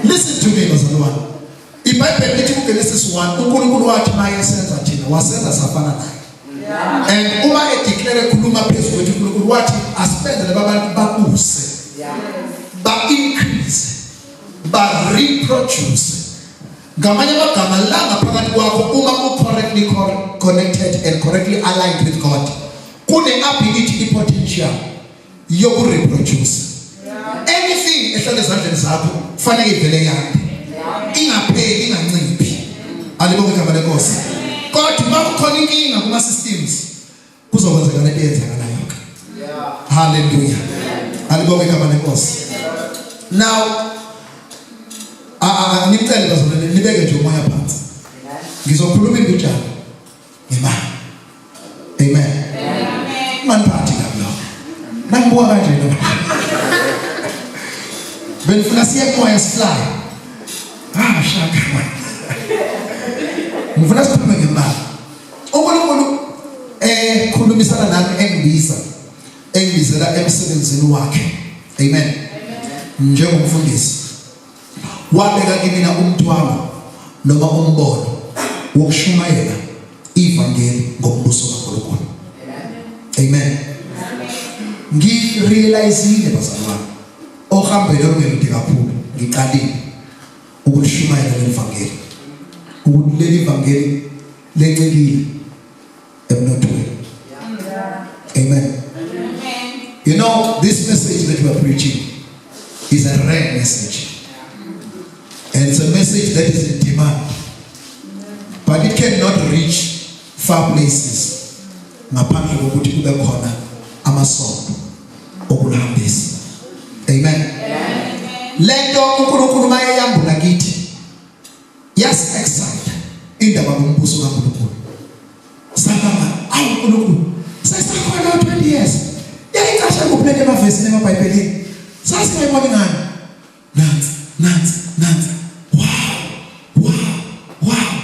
Listen to me bazalwane. IBhayibheli lithi kuGenesis 1 uNkulunkulu wathi mayesenza thina wasenza safana naye. Yeah. And uma edeclare khuluma phezulu kwethu uNkulunkulu wathi asipende laba bantu babuse. Yeah. Ba increase. Ba reproduce. Ngamanye amagama la ngaphakathi kwakho uma u correctly connected and correctly aligned with God. Kune ability i potential yokureproduce anything ehlala ezandleni zakho kufanele ivele yande ingapheli inganciphi alibonge igama lenkosi kodwa uma kukhona inkinga kuma systems kuzokwenzeka lento eyenzakalayo ke haleluya alibonge igama lenkosi now a a ngicela bazolele nibeke nje umoya phansi ngizokhuluma imbijana ngemali amen maniphathi kablo nangibuka kanje no benifuna siye kumoya sihlale ah shaka ngifuna siphume ngemali uNkulunkulu eh khulumisana nami engibiza engibizela emsebenzini wakhe amen njengomfundisi wabeka kimina umthwalo noma umbono wokushumayela ivangeli ngombuso kaNkulunkulu amen ngirealizile bazalwane ohambele ongemude kakhulu ngiqalile ukulishumayela leli vangeli ukuthi leli vangeli lencikile emnothweni amen you know this message that we are preaching is a rare message and it's a message that is in demand but it cannot reach far places ngaphandle kokuthi kube khona amasonto okulambisa amen lento uNkulunkulu mayeyambula kithi Yasi example indaba ngombuso kaNkulunkulu. Sababa awu uNkulunkulu sesakhona 20 years. Yayicashe kuphela emavesini emaBhayibhelini. Sasiyayibona ngani? Nansi, nansi, nansi. Wow. Wow. Wow.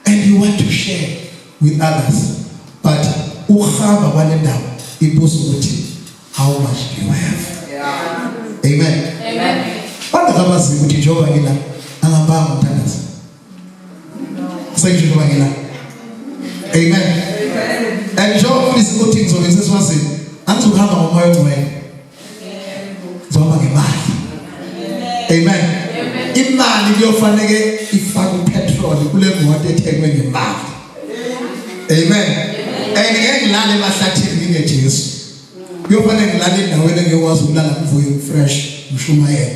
And you want to share with others. But uhamba kwalendawo ibuzo ukuthi how much do you have yeah. amen amen bangakabazi ukuthi njengoba ngila angabanga umthandazo sengisho njengoba ngila amen and njengoba ufisa ukuthi ngizobe sesiwazini angizokuhamba ngomoya ongcwele zoba ngemali amen imali kuyofanele ifake upetrol kule moto ethengwe ngemali amen and ngeke ngilale emahlathini ngingejesu kuyofanele ngilale endaweni engiyokwazi ukulala kuvuyo fresh ngishumayela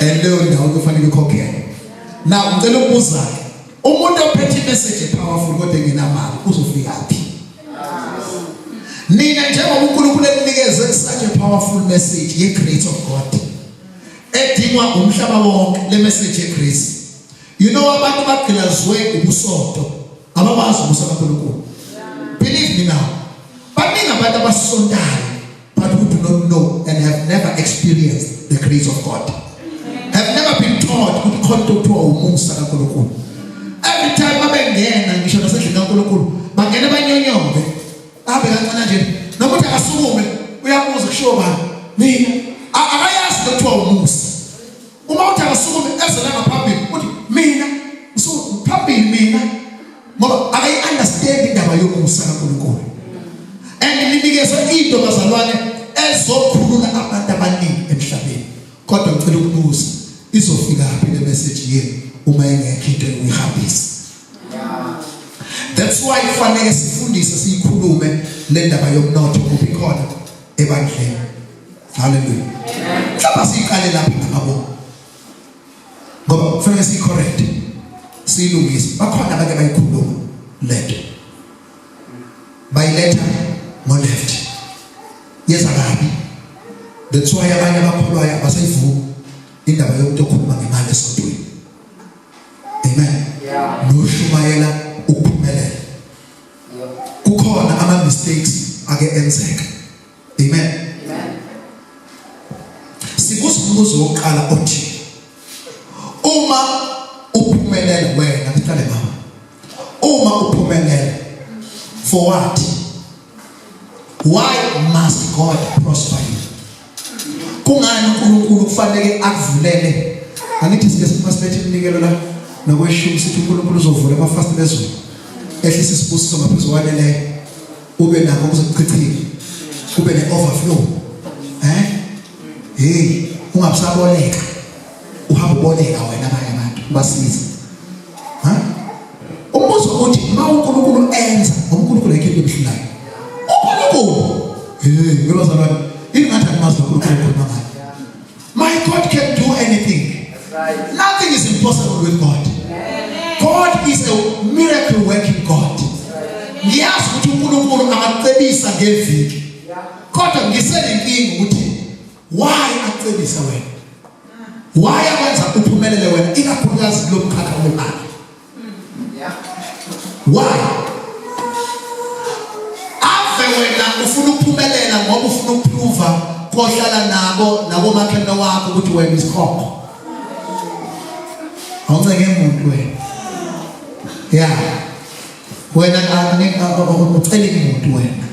and leyo ndawo kufanele ikhokhele now ngicela ukubuza-ke umuntu ophethe imessage epowerful kodwa engenamali uzofika phi nina njengoba uNkulunkulu eninikeze such a powerful message ye grace of God edingwa umhlaba wonke le message ye grace You know abantu bagqilazwe ubusonto abakwazi ubusa kaNkulunkulu. Believe me now. Baningi abantu abasontayo but who do not know and have never experienced the grace of God. Have never been taught ukuthi khona into kuthiwa umusa kaNkulunkulu. Every time babengena ngisho nasendlini kaNkulunkulu bangena banyonyombe. Abe kancane nje noma uthi akasukume uyabuza kushiwo bani. Mina akayazi kuthiwa umusa. Uma uthi akasukume eze la ngaphambili uthi mina ngisukume phambili mina ngoba akayi understand indaba yokusa kaNkulunkulu. And ninikezwe into bazalwane ezokhulula abantu abaningi emhlabeni. Kodwa ngicela ukubuza izofika phi le message yenu uma ingekho into yokuhambisa. That's why kufanele sifundise siyikhulume le ndaba yomnotho kuphi khona ebandleni. Hallelujah. Mhlawumbe siqale lapha ngabo. Ngoba kufanele sicorrect. Silungise. Bakhona abake bayikhuluma lento. Bayiletha ngo left. Yeza kabi. That's why abanye abakholwayo abasayivumi indaba yomuntu okhuluma ngemali esontweni. Amen. Yeah. Noshumayela ukuphumelela. Kukhona ama mistakes ake enzeka. Amen. Amen. Sibuza umbuzo wokuqala othi uma uphumelele wena kuqale mama. Uma uphumelele for what? Why must God prosper you? Kungani uNkulunkulu kufanele akuvulele? Angithi sike siphasiphethe iminikelo la nokweshumi sithi uNkulunkulu uzovula amafasitela ezulu. Ehlisa isibusiso ngaphezu kwaneleyo. ube nakho kuzokuchithile kube ne overflow eh hey ungabusaboleka uhamba uboleka wena abanye abantu basiza ha umbuzo uthi ma uNkulunkulu enza uNkulunkulu yake ebuhlayo uNkulunkulu hey ngibazalwane ingathi angimazi uNkulunkulu khona ngayo My God can do anything. That's right. Nothing is impossible with God. Amen. God is a miracle working God. Ngiyazi ukuthi uNkulunkulu angacebisa ngeviki. Kodwa ngisenenkinga ukuthi why acebisa wena? Why akwenza uphumelele wena ikakhulukazi kulomkhakha wemali? why ave wena ufuna ukuphumelela ngoba ufuna ukuphruva kohlala nabo nakomakhelwane wakho ukuthi wena isikhokho awuncenge muntu wena ya wena ucele muntu wena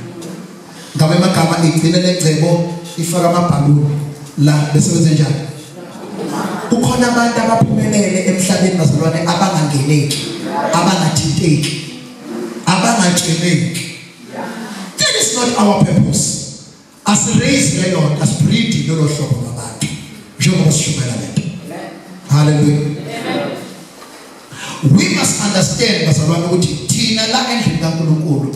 ngabe amagama igcine legcebo ifaka amabhaluni la bese wenze njani kukhona abantu abaphumelele emhlabeni bazalwane abangangeneki abangathinteki abangatsheleki that is not our purpose asiraise leyo asibreed lolo hlobo labantu njengoba sishumela lento haleluya we must understand bazalwane ukuthi thina la endlini kaNkuluNkulu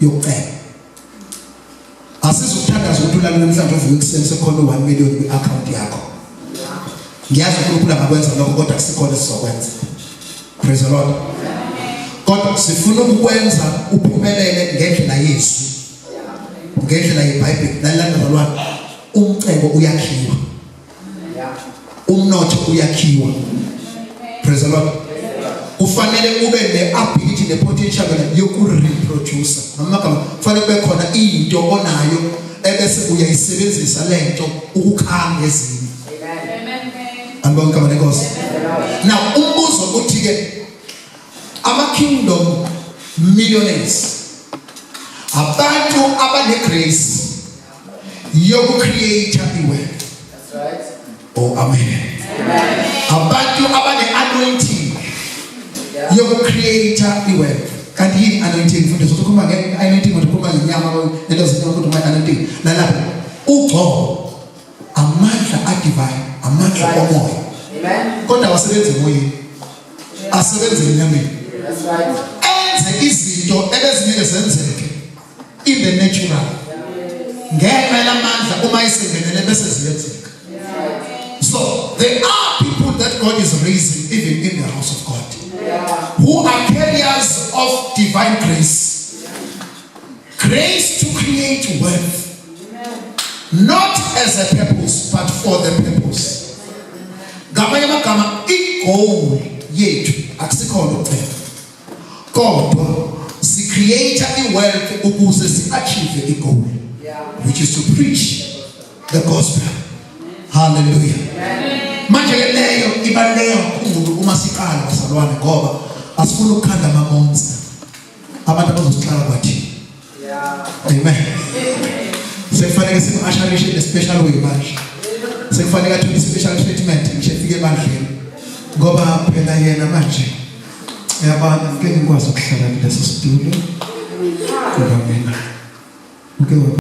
yokucela asizokuthandaza ukuthi ulale namhlanje uvuke ekuseni sekukhona u-1 million kwi-akhawunti yakho ngiyazi unkulunkulu angakwenza lokho kodwa kusikhona esizokwenza praise the lord kodwa sifuna ukukwenza uphumelele ngendlela yezwi ngendlela yebhayibheli lalilanda zalwana umcebo uyakhiwa umnotho uyakhiwa praise the lord kufanele ube ne-ability ne-potential yokureproducer ngamagama kufanele kube khona into onayo ebese uyayisebenzisa le nto ukukhanga ezinye anibonke abane nkosi now umbuzo uthi-ke ama-kingdom millionaires abantu abanegrace yoku create iwe oh amen abantu abane anointing yoku create iwe kanti yini anointing mfundisi ukhuluma nge anointing ukhuluma ngenyama lento zinto ukuthi uma anointing lalapha ugcobo amandla adivine amandla omoya amen kodwa wasebenza emoyeni asebenza enyameni enze izinto ebezingeke zenzeke in the natural ngenxa yamandla uma isingenele bese ziyenzeka so there are people that God is raising even in the house of God who are carriers of divine grace grace to create wealth not as a purpose but for the purpose ngamanye amagama igoal yethu akusikhona ukucela kodwa si create i wealth ukuze si achieve i goal which is to preach the gospel hallelujah manje ke leyo ibaluleke kakhulu uma siqala bazalwane ngoba asifuni ukukhanda amamonza abantu abazosihlala kwathini Amen. Sekufanele simasharishe le special way manje. Sekufanele athole special treatment ngisho efike ebandleni. Ngoba phela yena manje yabana ngeke ngikwazi ukuhlala kulesi studio. Ngoba mina. Ngeke